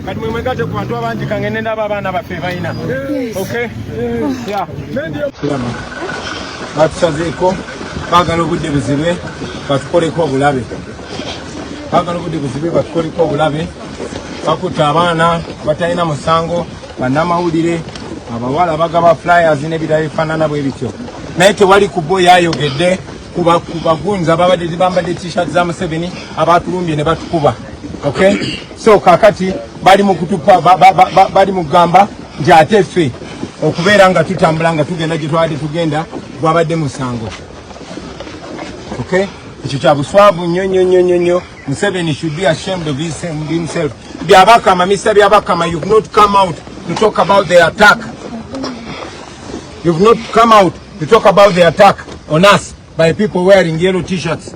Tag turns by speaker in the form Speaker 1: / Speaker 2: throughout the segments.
Speaker 1: kati mwe mwegatte ku bantu abangi kange ne ndaba abaana baffe balina okay yeah batusazeeko baagala obudde buzibe batukoleko obulabe baagala obudde buzibe batukoleko obulabe bakutte abaana batalina musango bannamawulire abawala bagaba flyers n'ebirala ebifaanana bwe bityo naye tewali ku bo yayogedde kubagunza babadde bambadde t-shirt za museveni abatulumbye ne batukuba okay so kakati bali mukutupa bali mugamba nti ate ffe okubeera nga tutambula nga tugenda gye twabadde tugenda gwabadde musango okay ekyo kya buswavu nnyo nnyo nnyo nnyo nnyo museveni should be ashamed of himself byabakama misa byabakama you've not come out to talk about the attack you've not come out to talk about the attack on us by people wearing yellow t-shirts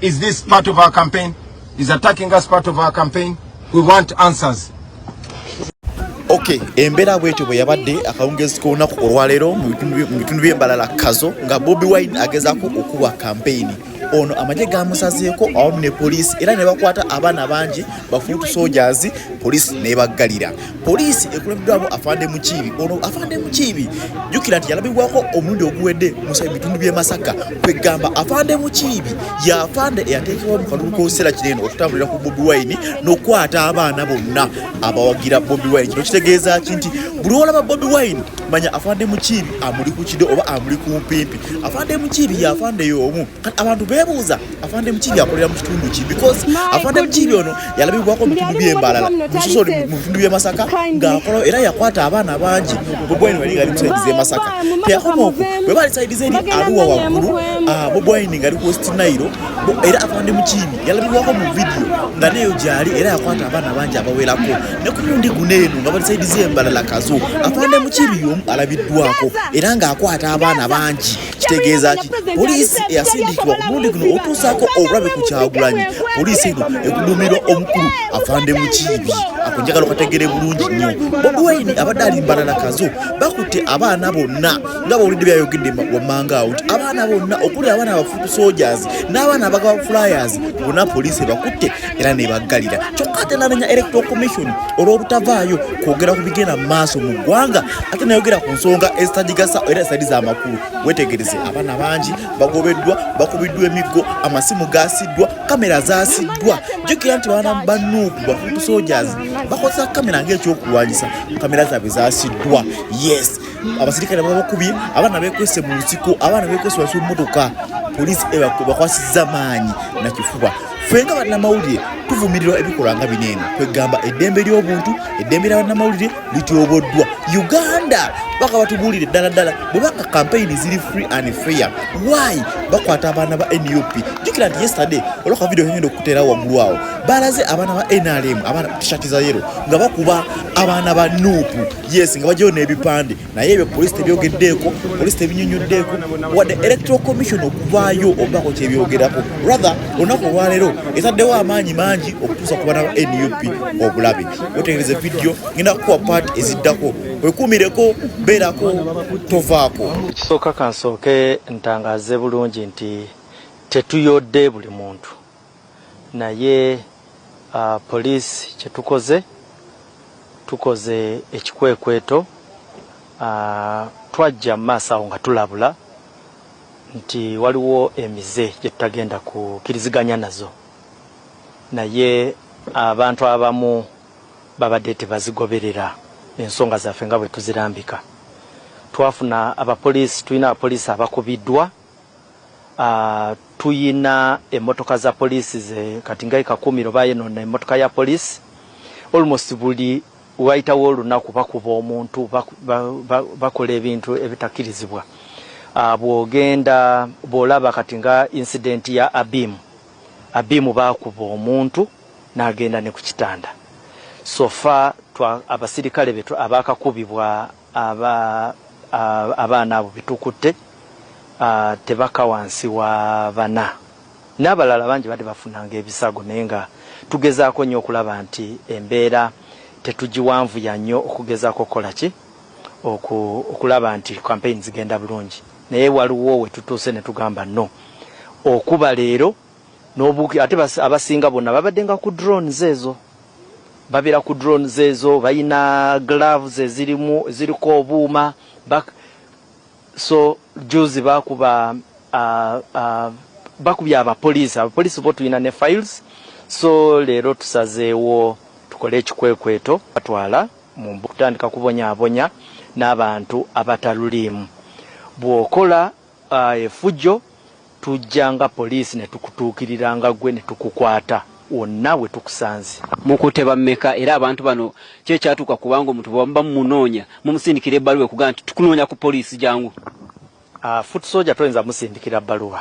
Speaker 1: Is this part of our campaign? Is attacking us part of our campaign? We want answers.
Speaker 2: Okay, embera bwetyo bwe yabadde akawungezi k'olunaku olwaleero mu bitundu by'embalala kazo nga Bobi Wine agezaako okuwa kampeyini ono amagye gamusazeeko awamu ne poliisi era ne bakwata abaana bangi bafuutu sojazi poliisi nebaggalira Poliisi ekulembeddwamu Afande Mukiibi. Ono Afande Mukiibi jjukira nti yalabibwako omulundi oguwedde musa bitundu by'e Masaka kwegamba Afande Mukiibi y'afande eyateekebwa mu kalulu k'okiseera kino eno okutambulira ku Bobi Wine n'okukwata abaana bonna abawagira Bobi Wine. Kino kitegeeza ki nti buli olaba Bobi Wine manya Afande Mukiibi amuli ku kido oba amuli ku mpimpi. Afande Mukiibi y'afande y'omu. Kati abantu beebuuza afande mukiri akolera mu kitundu ki because afande mukiri ono yalabibwako mu bitundu by'embalala musoso mu bitundu by'e masaka ng'akola era yakwata abaana bangi bobwaini wali ngali musaidiza e masaka teyakomaoku bwe bali saidiza eri aluwa waggulu ah, bobwaini ngali ku west nairo era afande mukiri yalabibwako mu vidiyo nga neyo gyali era yakwata abaana bangi abawerako ne ku mundi guno eno nga bali saidiza embalala kazo afande mukiri yomu alabiddwako era ng'akwata abaana bangi kitegeeza ki poliisi eyasindikibwa ku mulundi guno otuusaako obulabe ku kyagulanyi poliisi eno ekuduumirwa omukulu afande mukiibi ako njagala okategere bulungi nnyo bobi wayini abadde alimbana na kazo bakutte abaana bonna nga bawulidde byayogedde wammanga awo nti abaana bonna okuli abaana abafutu sojas n'abaana abagaba flyers bona poliisi ebakutte era nebaggalira kyokka ate nabenya electoral commission olw'obutavaayo kwogera ku bigenda mu maaso mu ggwanga ate nayogera ku nsonga ezitagigasa era ezitali z'amakulu wetegereze abaana bangi bagobeddwa bakubiddwa emiggo amasimu gaasiddwa kamera zaasiddwa jukira nti baana banuuku bafutu soldiers bakozesa kamera ngaekyokulwanyisa kamera zaabwe zaasiddwa yes abasirikale babakubye abaana bekwese mu nsiko abaana bekwese wasi mumotoka poliisi ebakwasiza maanyi nakifuba ffe nga bannamawulire tuvumirirwa ebikolwa nga bino eno kwegamba eddembe ly'obuntu eddembe lya bannamawulire lityoboddwa uganda baka batubuulire ddala ddala bwebanga kampeyini ziri free and fair why bakwata abaana ba nup jukira nti yesterday olwaka vidio nyenda okuteera waggulu awo balaze abaana ba nrm abaana tishati za yero nga bakuba abaana ba nup yes nga bajayo n'ebipande naye ebyo polisi tebyogeddeeko polisi tebinyonyoddeeko wadde electoral commission okuvaayo obaako kyebyogerako rather olunaku olwaleero etaddewo amaanyi mangi okutuusa ku bana nup obulabe wetegereza vidiyo ngenda kukuwa paati eziddako wekuumireko beerako tovaako ekisooka kansooke
Speaker 3: ntangaaze bulungi nti tetuyodde buli muntu naye police kyetukoze tukoze ekikwekweto twajja mumaaso awo nga tulabula nti waliwo emize gyetutagenda kukiriziganya nazo naye abantu abamu babadde tebazigoberera ensonga zaffe nga bwetuzirambika twafuna abapolisi tulina abapolisi abakubiddwa Tuyina emotoka za police ze kati nga e kakumiro bayonona emotoka ya police almost buli wayitawo olunaku bakuba omuntu bakola ebintu ebitakirizibwa bwogenda bwolaba kati nga incident ya abimu abimu bakuba omuntu nagenda ne kukitanda so far abasirikale betu abakakubibwa Aba abaana abo betukutte tebaka wansi wa bana nabalala bangi bade bafunanga ebisago naye nga tugezako nyo okulaba nti embeera tetugiwanvuya nyo okugezako okukola ki oku okulaba nti campaign zigenda bulungi naye waliwo wetutuuse netugamba no okuba leero nobu ate abasinga bona babadenga ku drones ezo. Babera ku drones ezo bayina gloves ezirimu ziriko obuuma bak so juzi bakuba uh, uh, bakubye abapoliisi abapoliisi bo tulina ne files so leero tusazeewo tukole ekikwekweto batwala mu kutandika kubonyabonya n'abantu abataluliimu bw'okola Efujjo tujja nga poliisi ne tukutuukirira nga ggwe ne tukukwata wonna we tukusanze. Mukutte bammeka
Speaker 4: era abantu bano ki ekyatuuka kubanga omuntu bwe muba mumunoonya mumusindikira ebbaluwa ekugamba nti tukunoonya ku poliisi jangu? Foot
Speaker 3: Soldier toyinza musindikira bbaluwa.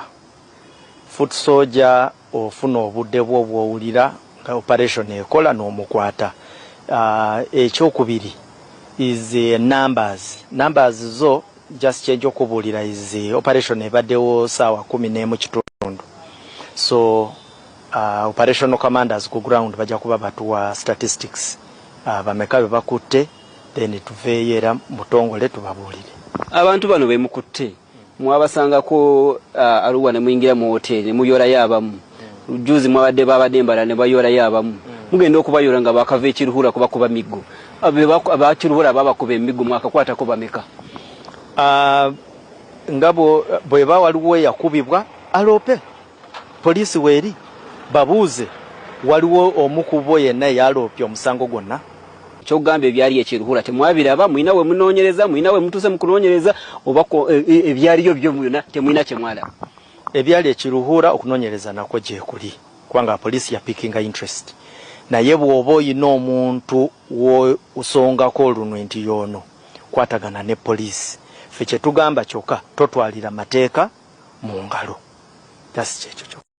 Speaker 3: Foot Soldier. Ofuna obude bwo bwowulira nga operation ekola nomukwata. Ekyokubiri is numbers numbers zo just kyenja okubulira is operation ebadewo sawa kumi nemu kitundu so operational commanders ku ground baja kuba batuwa statistics bameka bebakutte then tuveyo era mubutongole tubabulire. Abantu bano
Speaker 4: bemukutte mwabasangako uh, aruwa ne muyingira mu hoteli ne muyoolayo abamu mm. juzi mwabadde babadde embala ne bayoolayo abamu mm. mugenda okubayoola nga bakava ekiruhura kubakuba miggo abakiruhura babakuba emiggo mwakakwatako bameka uh, nga bweba waliwo eyakubibwa aloope Poliisi weeri, babuuze waliwo omu ku bo yenna eyaloopye omusango gwonna? Ky'ogamba ebyali e Kiruhura temwabiraba? Mulina we munoonyereza? Mulina we mutuuse mu kunoonyereza? Oba ebyaliyo byo byonna temulina kye mwalaba? Ebyali e
Speaker 3: Kiruhura okunoonyereza nakwo gyekuli kubanga poliisi ya pickinga interest naye bw'oba olina omuntu w'osongako olunwe nti y'ono, kwatagana ne police ffe kyetugamba kyoka totwalira mateeka mungalo just kyekyo kyoka.